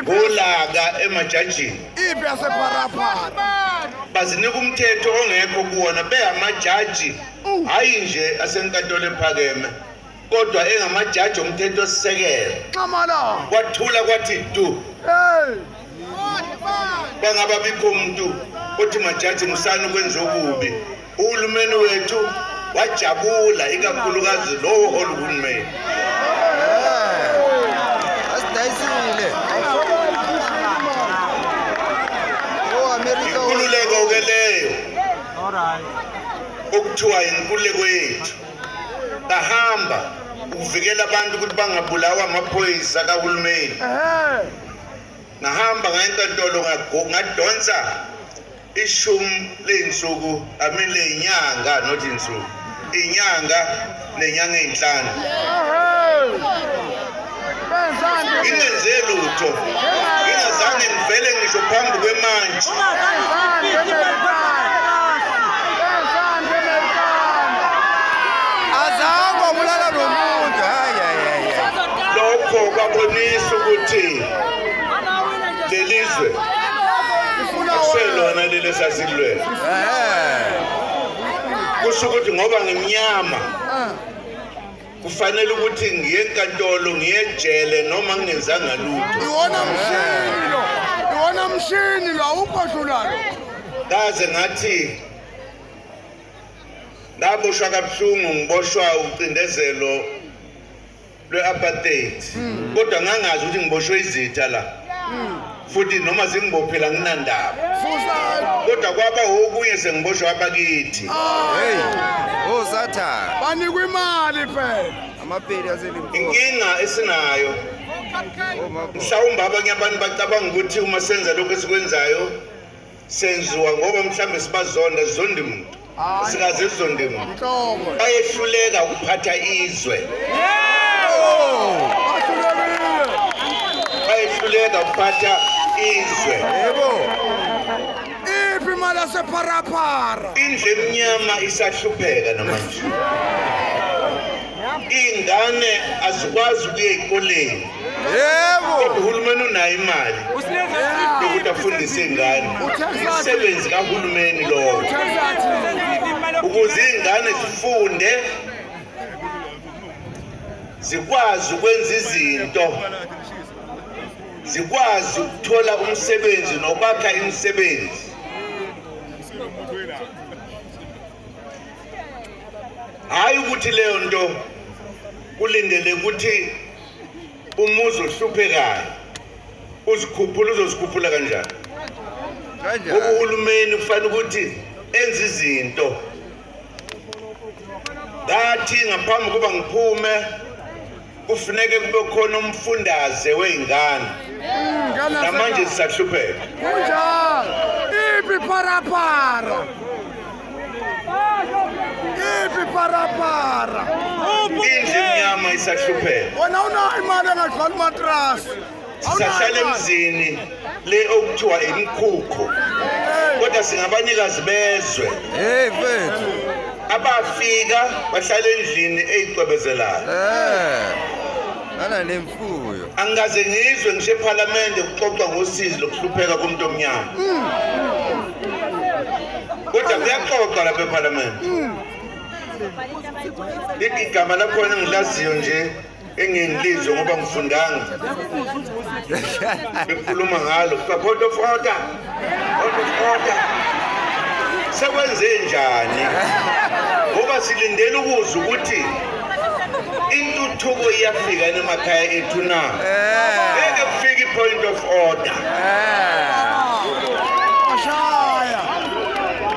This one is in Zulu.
ngolaka emajajini ipi yasepharapara bazinika umthetho ongekho kuwona bengamajaji hhayi nje asenkantolo ephakeme kodwa engamajaji omthetho osisekelo kwathula kwathi du bangaba bikho muntu othi majaji musani ukwenza okubi Uhulumeni wethu wajabula ikakhulukazi lowo holi uhulumeni inkululeko-ke leyo okuthiwa inkululeko yethu bahamba ukuvikela abantu ukuthi bangabulawa amaphoyisa kahulumeni ngahamba ngayenkantolo ngadonsa ishumi ley'nsuku amin ley'nyanga not insuku iy'nyanga nenyanga ey'nhlanu ingenze lutho ingazange ngivele ngisho phambi kwemantshi lokho kwabonisa ukuthi lelizwe selona leli esasilwela kusho ukuthi ngoba ngimnyama kufanele ukuthi ngiye enkantolo ngiye ejele noma ngingenzanga lutho iwona mshini lo iwona mshini lo awukho dlulalo kaze ngathi ngaboshwa kabuhlungu ngiboshwa ucindezelo lwe-apartheid hmm. kodwa ngangazi ukuthi ngiboshwe izitha la hmm. futhi noma zingibophela nginandaba kodwa kwaba okunye sengiboshwe abakithi osathane oh, banikwa imali phela amapeli aselimpopo inkinga esinayo oh, mhlawumbe abanye abantu bacabanga ukuthi uma senza lokhu esikwenzayo senziwa ngoba mhlawumbe sibazonda sizondi muntu sikaze sizondi muntu bayehluleka ukuphatha izwe bayehluleka ukuphatha izwe iphi imali asepharapara indlu emnyama isahlupheka namanje iy'ngane azikwazi ukuya ey'koleni yebo uhulumeni unayo imali ukuthi afundise iy'ngane umsebenzi kahulumeni lowo ukuze iy'ngane zifunde zikwazi ukwenza izinto zikwazi ukuthola umsebenzi nokwakha imisebenzi hhayi ukuthi leyo nto kulindele ukuthi umuzi ohluphekayo uzikhuphula uzozikhuphula kanjani ngoba uhulumeni kufanele ukuthi enze izinto ngathi ngaphambi kuba ngiphume kufuneke kube khona umfundaze wey'ngane namanje zisahlupheka kunjalo iphi parapara Ipi para para. Inyama isahlupheka. Wena unayo imali engadlali matrasi. Sisahlala emzini le okuthiwa imikhukhu. Kodwa singabanikazi bezwe. Hey mfethu. Abafika bahlala endlini eyicwebezelayo. Eh. Ana kuyo angikaze ngizwe ngisho ephalamende kuxoxwa ngosizi lokuhlupheka komuntu omnyama kodwa kuyaxoxwa lapha ephalamende igama lakhona engilaziyo nje engingilizwe ngoba ngifundanga bekhuluma ngalo kuthiwa photofoda sekwenze njani ngoba silindele ukuzwa ukuthi intuthuko iyafika emakhaya ethu na eh. ngeke kufika i-point of order eh.